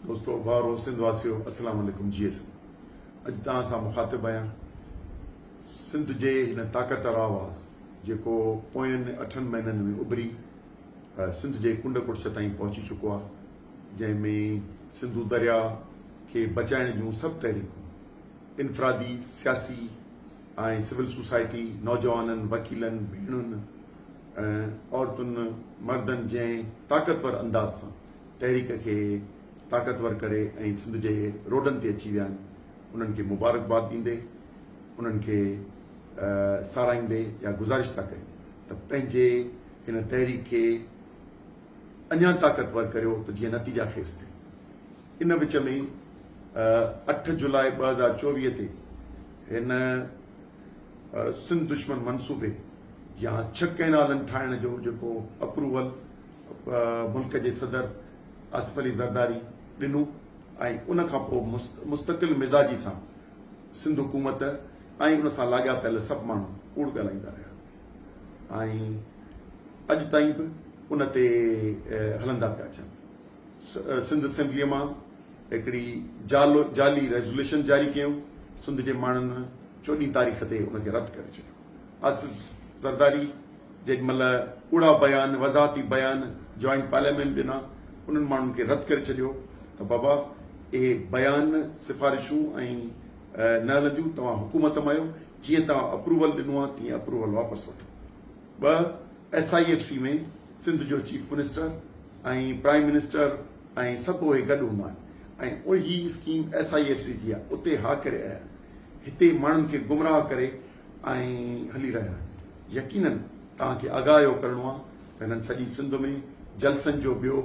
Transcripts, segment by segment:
دوستو ڀائرو سنڌ واسيو اسلام عليڪم جي ايس اڄ توهان سان مخاطب آهيان سنڌ جي هن طاقتور آواز جيڪو پوين اٺن مهينن ۾ اڀري سنڌ جي ڪنڊ ڪڙڇ تائين پهچي چڪو آهي جنهن ۾ سنڌو دريا کي بچائڻ جون سڀ تحريڪون انفرادي سياسي ۽ سول سوسائٽي نوجوانن وڪيلن ڀيڻن عورتن مردن جنهن طاقتور انداز سان تحريڪ کي طاقتور ڪري ۽ سنڌ جي روڊن تي اچي ويا آهن انهن کي مبارڪباد ڏيندي انهن کي ساراهيندي اها گذارش ٿا ڪريون ته پنهنجي هن تحريڪ کي اڃا طاقتور ڪريو ته جيئن نتيجا خيز ٿئي ان وچ ۾ اٺ جولاء ٻه هزار چوويهه تي هن سنڌ دشمن منصوبي يا ڇهه ڪئنالن ٺاهڻ جو جيڪو اپروول ملڪ جي صدر آصف علي زرداري ڏنو ۽ ان کان پوء مستقل مزاجي سان سنڌ حڪومت ۽ ان سان لاڳاپيل سڀ ماڻهو ڪوڙ ڳالهائيندا رهيا ۽ اڄ تائين به ان تي هلندا پيا اچن سنڌ اسيمبليء مان هڪڙي جعلي ريزوليشن جاري ڪيون سنڌ جي ماڻهن چوڏهين تاريخ تي ان کي رد ڪري ڇڏيو آصف زرداري جيڏي مھل ڪوڙا بيان، وضاحتي بيان جوائنٽ پارليامينٽ ڏنا انھن ماڻھن کي رد ڪري ڇڏيو ته بابا اھي بيان سفارشون ۽ نه ھلنديون توھان حڪومت مان آھيو جيئن توھان اپروول ڏنو آھي تيئن اپروول واپس وٺو ٻه S I F C ۾ Sindh جو چيف منسٽر ۽ پرائم منسٽر ۽ سڀ اھي گڏ ھوندا آھن ۽ اھي scheme S I F C جي آھي اتي ھا ڪري آيا هتي ماڻهن کي گمراهه ڪري ۽ هلي رهيا آهن يقينن توهان کي آگاهه اهو ڪرڻو آهي ته هنن سڄي سنڌ ۾ جلسن جو ٻيو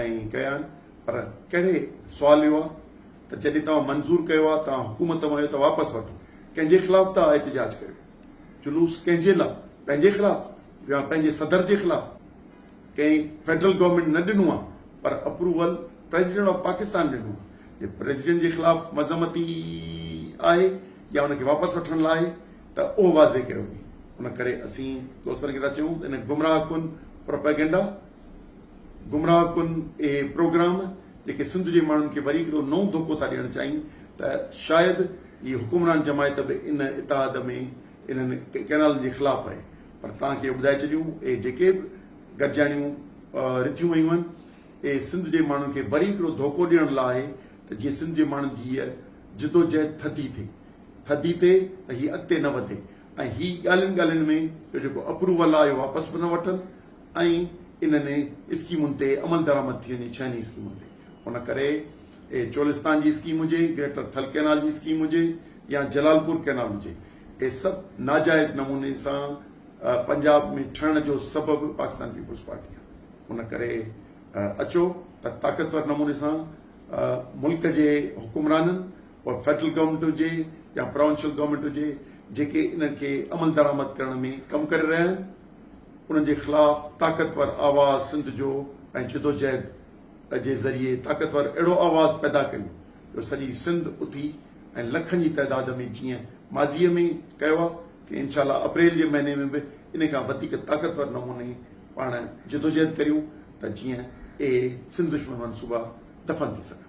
۽ ڪيا آهن پر ڪهڙي سوال اهو آهي ته جڏهن توهان منظور ڪيو آهي توهان حڪومت مان اهو ته واپس وٺو ڪنهن جي خلاف ٿا احتجاج ڪريو جلوس ڪنهن جي لا پنهنجي خلاف يا پنهنجي صدر جي خلاف ڪنهن فيڊرل گورنمينٽ نه ڏنو آهي پر اپروول پريزيڊنٽ آف پاڪستان ڏنو آهي جي پريزيڊنٽ جي خلاف مذمتي آهي يا ان کي واپس وٺڻ لاء آهي ته اهو واضح ڪيو وڃي ان ڪري اسين دوستن کي ٿا چيون ته ان گمراهه ڪن پروپيگنڊا گمراهه ڪن اهي پروگرام جيڪي سنڌ جي ماڻهن کي وري هڪڙو نئون ڌوڪو ٿا ڏيڻ چاهين ته شايد هي حڪمران جماعت به ان اتحاد ۾ انهن ڪئنالن جي خلاف آهي پر توهان کي ٻڌائي ڇڏيون اهي جيڪي به گڏجاڻيون رٿيون ويون آهن اهي سنڌ جي ماڻهن کي وري هڪڙو ڌوڪو ڏيڻ لاء آهي ته جيئن سنڌ جي ماڻهن جي هيء جدوجهد ٿڌي ٿئي ٿڌي ٿئي ته هي اڳتي نه وڌي ۽ هي ڳالهين ڳالهين ۾ اهو جيڪو اپروول آهي اهو واپس به نه وٺن ۽ انهن اسڪيمن تي عملدرآمد ٿي وڃي ڇهن ئي اسڪيمن تي ان ڪري اهي چولستان جي اسڪيم هجي، گريٽر ٿل ڪئنال جي اسڪيم هجي يا جلال پور ڪئنال هجي اهي سڀ ناجائز نموني سان پنجاب ۾ ٺهڻ جو سبب پاڪستان پيپلز پارٽي آهي ان ڪري اچو ته طاقتور نموني سان ملڪ جي حڪمرانن پوء فيڊرل گورنمينٽ هجي يا پراونشل گورنمينٽ هجي جيڪي انهن کي عمل درآمد ڪرڻ ۾ ڪم ڪري رهيا آهن انهن جي خلاف طاقتور آواز سنڌ جو ۽ جدوجهد جي ذريعي طاقتور اهڙو آواز پيدا ڪريون جو سڄي سنڌ اٿي ۽ لکن جي تعداد ۾ جيئن ماضي ۾ ڪيو آهي تيئن انشاء الله اپريل جي مهيني ۾ به ان کان وڌيڪ طاقتور نموني پاڻ جدوجهد ڪريون ته جيئن اهي سنڌ دشمن منصوبا دفن ٿي سگهن.